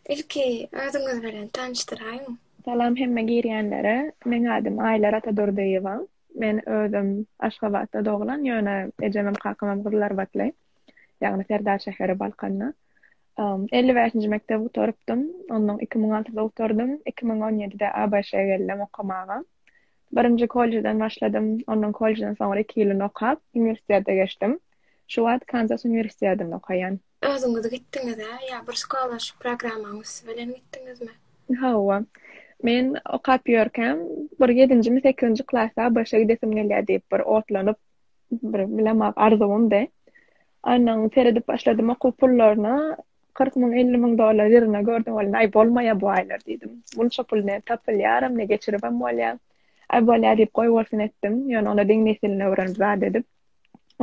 Ilki özüňiz bilen tanyşdyraýyň. Salam hemme girýänlere. Meň adym Aýlar Atadurdyýewa. Men özüm Aşgabatda doglan, ýöne ejemem kakamam gyzlarbatly, ýagny Serdar şäheri Balkanda. Elli bäşinji mekdebi gutarypdym. Onnoň iki müň altysy gutardym. Iki müň on ýedide ABŞ-a geldim okamaga. Birinji kollejden başladym. Ondan kollejden soňra iki ýylyny okap, uniwersitete geçdim. Şu wagt Kanzas uniwersitedinde okaýan. Özüňiz gitdiňiz-ä ýa bir skolarship programmaň üsti bilen gitdiňizmi? Hawa. Men okap ýörkäm, bir ýedinjimi, sekizinji klasda ABŞ-a gidesim gelýär diýip bir otlanyp, bir bilemok arzuwymdy. Ondan seredip başladym okuw pullaryna. Kyrk müň, elli müň dollar ýygyna gördüm, welin, aý, bolmaýa bu aýlar diýdim. Munça pul ne tapylýaram, ne geçiribem bolýa. Aý, bolýa diýip, goýbolsun etdim. Ýöne onda diňe nesilini öwrenip zat edip.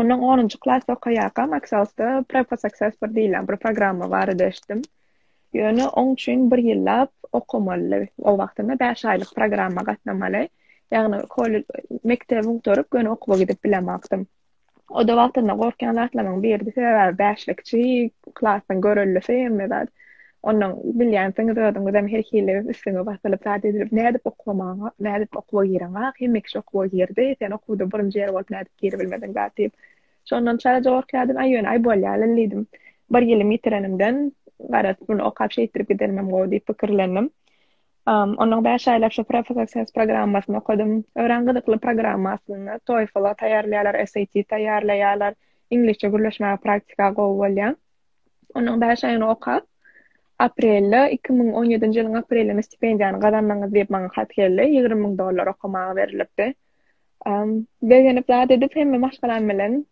Onnoň onunjy klasda okaýarkam Aksel'sda Preposaksess bir diýlen bir programma barada eşitdim. Ýöne oň üçin bir ýyllap okamaly. O wagtynda bäş aýlyk programma gatnamaly. Ýagny, kollej, mekdebi gutaryp, göni okuwa gidip bilemokdym. O-da wagtynda gorkýan zatlarymyň biridi, sebäbi bäşlik kiçi, klasyň görellisi hemme zat. Ondan bilýänsiňiz özüňizem her hili üstüňe basylyp zat edilip, nädip okamaga, nädip okuwa gireňa, hemme kişi okuwa girdi, sen okuwda birinji ýer bolup nädip giribilmediň zat diýip. Şondan çalaja gorkýardym, aý ýöne aý bolýaly diýdim. Bir ýylym ýitirenimden, garaz, muny okap şeýtdirip gidenimem gowy diýip pikirlendim. Ondan bäş aýlap şu Profi Success programmasyny okadym. Örän gyzykly programma aslynda. TOEFL-a taýýarlaýarlar, SAT taýýarlaýarlar. Iňlisçe gürleşmäge praktika gowy bolýar. Ondan bäş aý ony okap, aprelde, iki müň on ýedinji ýylyň aprelinde stipendiýany gazandyňyz diýip maňa hat geldi. Ýigrimi müň dollar okamaga berilipdi. Begenip zat edip hemme maşgalam bilen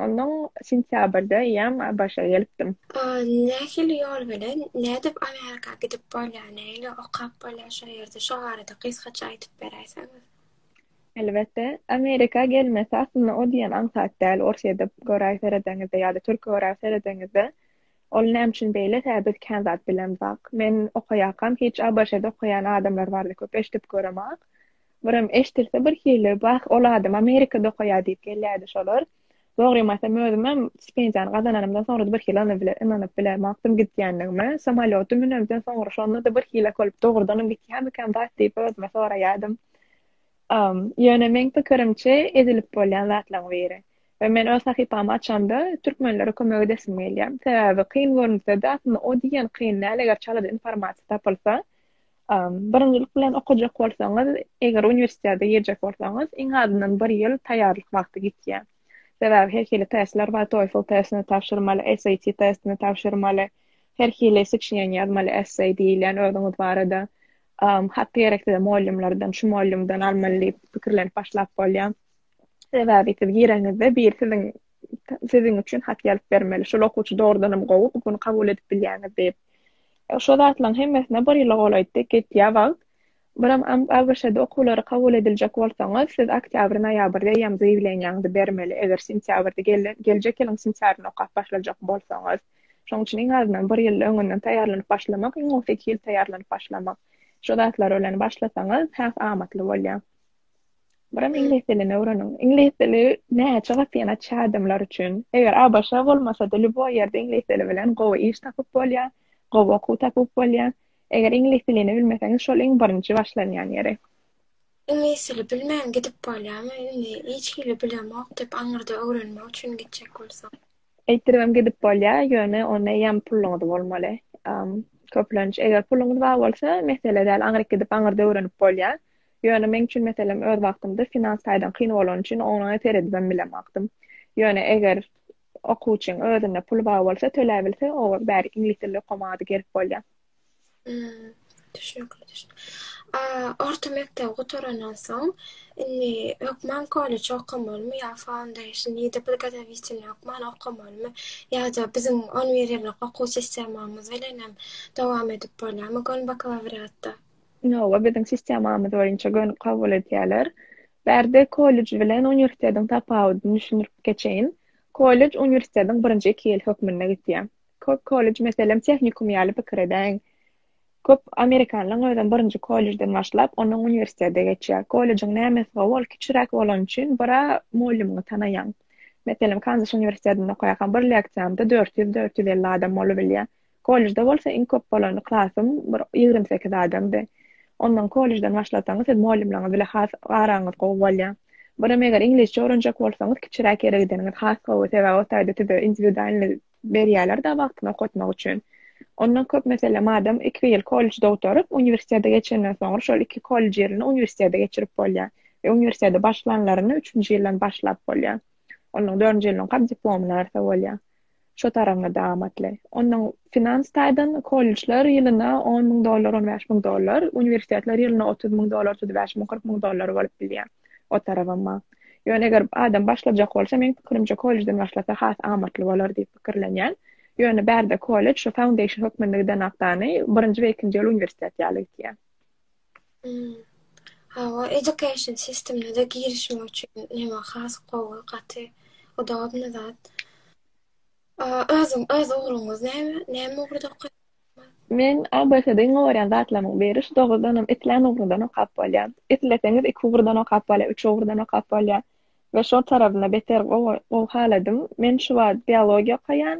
Ondan sentýabrda ýam ABŞ-a gelipdim. Nähili ýol bilen, nädip Amerika gidip bolýar, nähili okap bolýar şo ýerde, şo barada gysgaça aýdyp beräýseňiz? Elbetde, Amerika gelmesi aslynda o diýen aňsat däl, Orsýede göräý seredeňizde ýa-da Türkiýe göräý seredeňizde, ol näme üçin beýle, tä biz kän zat bilemzak. Men okaýakam hiç ABŞ-da okaýan adamlar barada köp eşidip göremok. Birem eşdilse birhili, Wah, ol adam Amerikada okaýar diýip gelýärdi şolar. Dogrym aýtsam, özümem stipendiýany gazananymdan soňra-da birhili ony bile ynanyp bilemokdym gidýändigime. Samolýota münemden soňra şonda-da birhili-ak bolup, dogrudanam gitýärmikäm zat diýip özüme soraýardym. Ýöne meň pikirimçe, edilip bolýan zatlaryň biri. We men öz sahypamy açamda, türkmenlere kömek edesim gelýär. Sebäbi kyn görünse-de, aslynda o diýen kyn däl, eger çalada informasiýa tapylsa, Birinjilik bilen okajak bolsaňyz, eger uniwersitete girjek bolsaňyz, iň azyndan bir ýyl taýýarlyk wagty gitýär. Sebäbi her hili testler bar, TOEFL testini tabşyrmaly, SAT testini tabşyrmaly, her hili sçýen ýazmaly, essay diýilýän özüňiz barada. Hatda gerekse-de mugallymlardan, şu mugallymdan almaly diýip pikirlenip başlap bolýar. Sebäbi siz gireňizde biri siziň siziň üçin hat ýazyp bermeli. Şol okuwçy dogrudanam gowy, bu gün kabul edip bilýäňiz diýip. Şo zatlaryň hemmesine bir ýyla golaýdy, gitýär wagt. Biram ABŞ-da okuwlara kabul ediljek bolsaňyz, siz oktýabr-noýabrda eýýäm zaýawleniýaňyzy bermeli, eger sentýabrda geljek ýylyň sentýabrynda okap başlajak bolsaňyz. Şonuň üçin iň azyndan bir ýyl öňünden taýýarlanyp başlamak, iň gowusy iki ýyl taýýarlanyp başlamak. Şo zatlar bilen başlasaňyz, has amatly bolýar. Biram iňlis dilini öwreniň. Iňlis dili näçe gat ýene çädimler üçin. Eger ABŞ bolmasa-da, lýuboý ýerde iňlis dili bilen gowy iş tapyp bolýar, gowy okuw tapyp bolýar. Eger iňlis dilini bilmeseňiz, şol iň birinji başlanýan ýeri. Iňlis dili bilmän gidip bolýarmy? Indi hiç hili bilemok diýip, aňyrda öwrenmek üçin gitjek bolsaň. Eýtiribem gidip bolýar, ýöne onda eýýäm puluňyz bolmaly. Köplenç, eger puluňyz bar bolsa, mesele däl, aňryk gidip, aňyrda öwrenip bolýar. Ýöne meň üçin meselem öz wagtymda finans taýdan kyn bolany üçin oňa seredibem bilemokdym. Ýöne eger okuwçyň özünde puly bar bolsa, töläbilse, olar bäri iňlis dilinde okamady gelip bolýar. Düşnükli, düşnükli. A orta mekdebi gutarandan soň, indi hökman kollej okamalymy ýa foundation, ýa-da podgotowitelniý hökman okamalymy, ýa-da biziň on bir ýyllyk okuw sistemamyz bilenem dowam edip bolýarmy göni bakalawriatda? Inowa biziň sistemamyz boýunça gönüp kabul edýärler. Bärde kollej bilen uniwersitetiň tapawudyny düşündirip geçeýin. Kollej uniwersitetiň birinji iki ýyl hökmünde gitýär. Köp kollej, meselem, tehnikum ýaly pikir edäýiň. Köp amerikanlaryň özem birinji kollejden başlap, ondan uniwersitete geçýär. Kollejiň nämesi gowy, ol kiçiräk bolany üçin bir-ä mugallymyňy tanaýaň. Meselem, Kanzas uniwersitetinde okaýarkaň bir leksiýamda dört ýüz, dört ýüz elli adam bolubilýär. Kollejde bolsa iň köp bolan klasym bir ýigrimi sekiz adamdy. Ondan kollejden başlasaňyz siz mugallymlaryňyz bile has araňyz gowy bolýar. Birem eger iňlisçe öwrenjek bolsaňyz kiçiräk ýere gideniňiz has gowy, sebäbi o taýda size indiwidualny berýärler-de wagtyny okatmak üçin. Ondan köp meselem adam iki ýyl kollejde gutaryp, uniwersitete geçenden soňra şol iki kollej ýylyny uniwersitete geçirip bolýar we uniwersitete başlanlaryny üçünji ýyldan başlap bolýar. Ondan dördünji ýylyňkam diplomyny berse bolýar. Şo taragňada amatly. Onnoň finans taýdan kollejler ýylyna on müň dollar, on bäş müň dollar, uniwersitetler ýylyna otuz müň dollar, otuz bäş müň, kyrk müň dollar bolup bilýär. O tarabam bar. Ýöne eger adam başlajak bolsa, meň pikirimçe kollejden başlasa has amatly bolar diýip pikirlenýän. Ýöne bärde kollej şo foundation hökmünde gidenakdany birinji we ikinji ýyl uniwersitet ýaly gitýär. Hawa education sistemine-de girişmek üçin ýene has gowy gaty udobny zat. Özüň öz ugruňyz näme? Näme ugurda okaýaňyz? Men ABŞ-da iň gowy görýän zatlarymyň biri şu dogrudanam islän ugruňdan okap bolýar. Isleseňiz iki ugurdan okap bolýar, üç ugurdan okap bolýar we şol tarapynda beter gowy haladym. Men şu wagt biologiýa okaýan.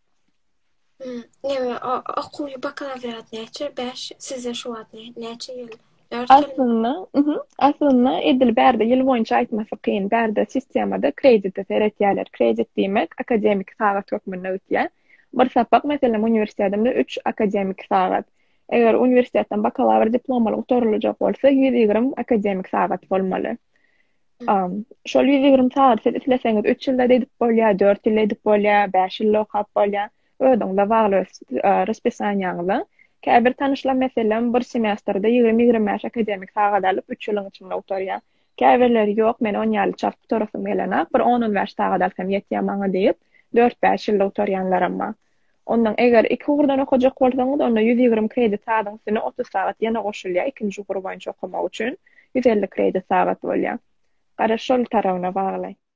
Neme, okuwy bakalawriat näçe? Bäş, sizde şu wagt näçe ýyl? Aslynda, mhm, aslynda edil bärde ýyl boýunça aýtmasy kyn. Bärde sistemada kredite seretýärler. Kredit diýmek, akademiki sagat hökmünde ötýär. Bir sapak, meselem, uniwersitetinde üç akademiki sagat. Eger uniwersitetden bakalawr diplomaly gutaryljak bolsa, ýüz ýigrimi akademiki sagat bolmaly. Şol ýüz ýigrimi sagady siz isleseňiz üç ýylda edip bolýar, dört ýylda edip bolýar, bäş ýylda okap bolýar. Özüňize bagly öz raspissaniýaňyza. Käbir tanyşlar, meselem, bir semestrde ýigrimi-ýigrimi bäş akademiki sagat alyp, üç ýylyň içinde gutarýar. Käbirleri, Ýok, men on ýaly çalt gutarasym gelenok, bir on-on bäş sagat alsam ýetýär maňa diýip, dört-bäş ýylda gutarýanlaram bar. Ondan eger iki ugurdan okajak bolsaňyz, onda ýüz ýigrimi kredit sagatyň üstüne otuz sagat ýene goşulýar, ikinji ugur boýunça okamak üçin ýüz elli kredit sagat bolýar. Gara şol tarabyna bagly.